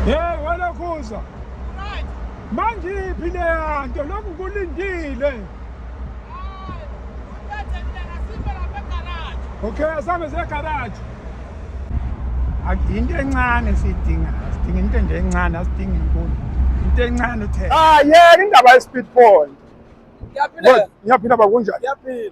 Hey wena Khuza. Right. Manje iphi le yanto lokhu kulindile? Okay, asambe ze garage. Akuyinto encane sidinga. Sidinga into nje encane, asidingi inkulu. Into encane uthe. Ah, yeah, indaba ye speed point. Ngiyaphila. Ngiyaphila bakunjani? Ngiyaphila.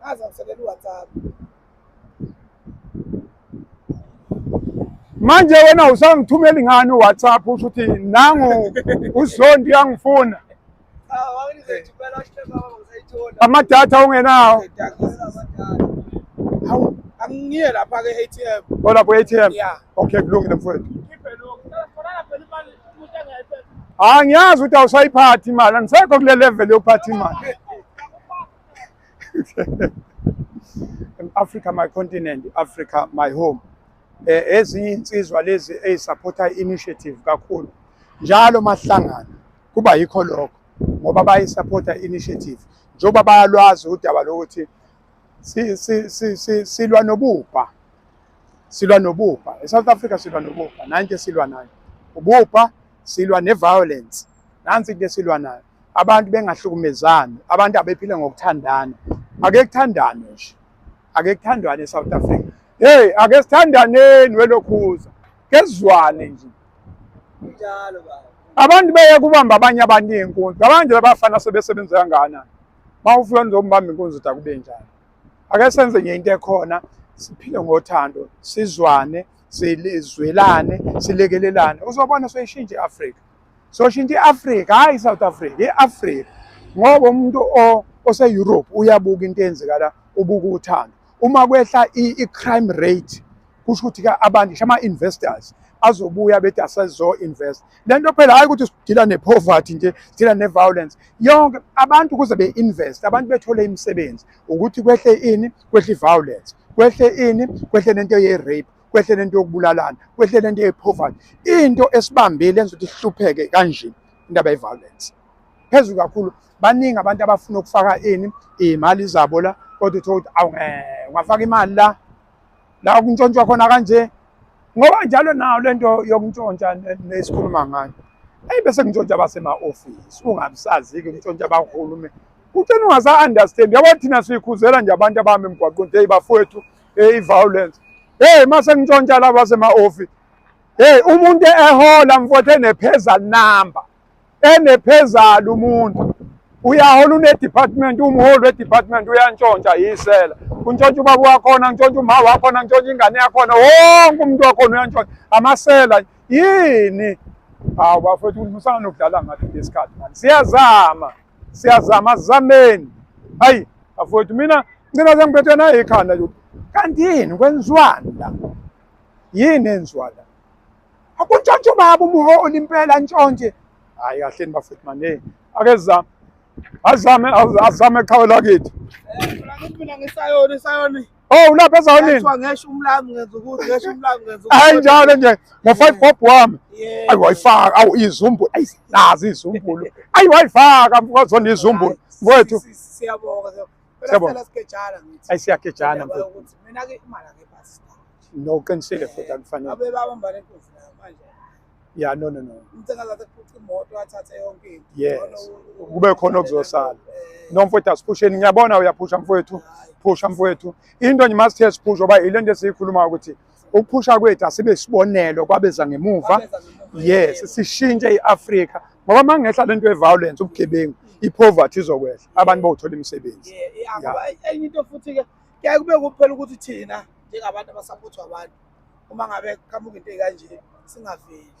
Ngaze ngiselela uWhatsApp. Manje wena usangithumeli ngani uWhatsApp usho ukuthi nangu uzondi yangifuna. Ah, wawunizethi phela usho baba ngizayithola. Amadatha ungenawo. Hawu, angiye lapha ke ATM. Olapho ATM. Yeah. Okay, kulungile mfowethu. Ah, ngiyazi ukuthi awusayiphathi imali, andisekho kule level yophatha imali. Africa my continent, Africa my home. Eh ezinye insizwa lezi ezisupporta initiative kakhulu. Njalo mahlangana kuba yikho lokho ngoba bayisupporta initiative. Njoba bayalwazi udaba lokuthi si si si silwa nobubha silwa nobubha eSouth Africa silwa nobubha nanje silwa nayo ububha silwa neviolence nansi into esilwa nayo abantu bengahlukumezani abantu abephile ngokuthandana ake kuthandane nje ake kuthandwane eSouth Africa hey ake sithandaneni welokhuza kezwane nje njalo baba abantu beye kubamba abanye abantu iy'nkunzi abanje labafana sebesebenzeka ngana uma ufika nizombamba inkunzi uthi akube njani ake senze nje into ekhona siphile ngothando sizwane sizwelane silekelelane uzobona soyishintsha i-afrika soshintsha i-afrika hhayi i-south africa i-afrika ngoba umuntu ose-europe uyabuka into eyenzeka la ubuka uthando uma kwehla i-crime rate kusho ukuthi-ke abantu ngisho ama-investors azobuya bethi asezo-invest le nto phela hayi ukuthi sidila ne-poverty nje sidila ne-violence yonke abantu ukuze be-invest abantu bethole imisebenzi ukuthi kwehle ini kwehle i-violence kwehle ini kwehle nento ye-rape kwehle nento yokubulalana kwehle nento ye-poverty into esibambile enza ukuthi sihlupheke kanje indaba ye-violence phezulu kakhulu baningi abantu abafuna ukufaka ini iy'mali zabo la kodwa uthole ukuthi awu eh, ungafaka imali la la kuntshontshwa khona kanje ngoba njalo nayo lento yokuntshontsha nesikhuluma ngayo eyi bese kuntshontsha basema-ofisi ungabisazi-ke kuntshontsha bahulume kutshena ungasa-understand yabo thina siyikhuzela nje abantu abahamba emgwaqweni eyi bafowethu eyi i-violence heyi uma sengintshontsha laba basema-ofisi heyi umuntu ehola mfowethu enepheza number enephezalo umuntu uyahola une-department umholi we-department uyantshontsha yisela kuntshontsha ubaba wakhona ngitshontsha umha wakhona ngitshontsha ingane yakhona wonke umuntu wakhona uyantshontsha amasela yini hawu bafethu musana nokudlala ngathi ngesikhathi mani siyazama siyazama zameni hayi bafethu mina ngicina sengiphethwe nayo ikhanda kanti yini kwenziwani la yini enziwa la Akuntshontshe ubaba umuholi impela ntshontshe. Hayi kahle bafethu manje. Ake zame. Azame azame qhawe lakithi. Mina ngisayona isayona. Oh ulapha ezawonini. Kuthiwa ngesho umlami ngenza ukuthi ngesho umlami ngenza ukuthi. Hayi njalo nje ngo 5 bob wami. Ayi wayifaka awu izumbu ayi nazi izumbulu. Ayi wayifaka mfowazona izumbulu. Mfowethu. Siyabonga. Siyabona. Sikejana ngithi. Ayi siyakejana mfethu. Ukuthi mina ke imali akepha star. No qinisile futhi akufanele. Abe babamba le nkosi la manje. Yeah no no no. Umthenga zathi kuthi imoto athathe yonke into. Yes. Kube khona okuzosala. Eh. No mfethu asiphusheni ngiyabona uyaphusha mfethu. Phusha mfethu. Into nje must test phusha oba ilento esiyikhuluma ukuthi ukuphusha kwethu asibe isibonelo kwabeza ngemuva yes sishintshe i-afrika ngoba uma ngehla le nto ye-violence ubugebengu i-poverty izokwehla abantu bawuthola imisebenzi enye into futhi-ke kuyaye kube kuphela ukuthi thina njengabantu abasaphutha abantu uma ngabe qhamuka into ey'kanje singaveli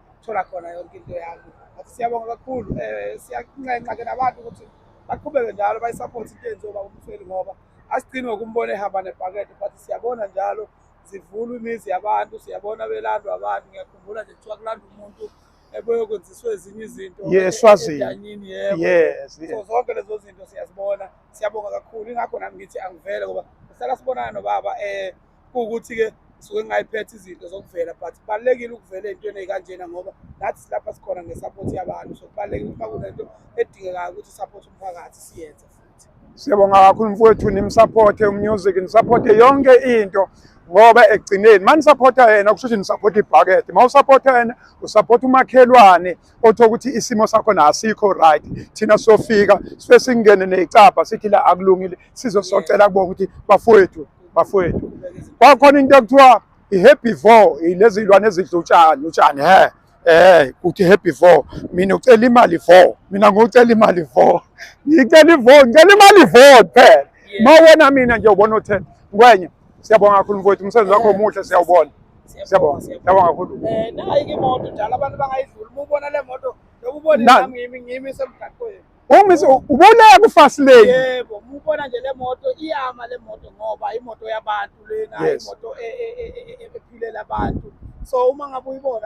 ukuthola khona yonke into yami athi siyabonga kakhulu um eh, siyanxenxa ke nabantu ukuthi baqhubeke njalo bayisaphothe into yenziwa baba umsweli ngoba asigcini ngokumbona ehamba nebhakede but siyabona njalo zivulwa imizi yabantu siyabona belandwa abantu ngiyakhumbula nje kuthiwa kulanda umuntu eboyokwenziswa ezinye izinto yeswazini yes so zonke lezo zinto siyazibona siyabonga kakhulu ingakho nami ngithi angivele ngoba sihlala sibonana nobaba um kuwukuthi-ke suke ngingayiphethe izinto zokuvela but kubalulekile ukuvela ey'ntweni ey'kanjena ngoba nathi silapha sikhona ngesapothi yabantu so kubalulekile ukuba kunento edingekayo ukuthi isapothi umphakathi siyenze futhi siyabonga kakhulu mfowethu nimsaphothe umusic nisaphothe yonke into ngoba ekugcineni uma nisaphotha yena kusho ukuthi nisaphotha ibhakede uma usaphotha yena usaphotha umakhelwane othola ukuthi isimo sakho nasikho right thina sofika sife singene necapha sithi la akulungile sizosocela kubona ukuthi bafowethu bafowethu kwakhona into ekuthiwa i-herbivore ilezi lwane ezidlutshani utshani he eh kuthi happy four mina ucela imali four mina ngocela imali four ngicela ivo ngicela imali four kuphela ma wena mina nje ubona uthe ngwenye Siyabonga kakhulu mfowethu, umsebenzi wakho omuhle siyawubona. Siyabonga. Siyabonga kakhulu. Eh nayi ke moto njalo abantu bangayidlula. Uma ubona le moto, noma ubona nami ngimi ngimi semgaqweni. Uma ubona ku fast lane. Yebo, uma ubona nje le moto iyama le moto ngoba imoto yabantu lena, imoto ephilela abantu. So uma ngabe uyibona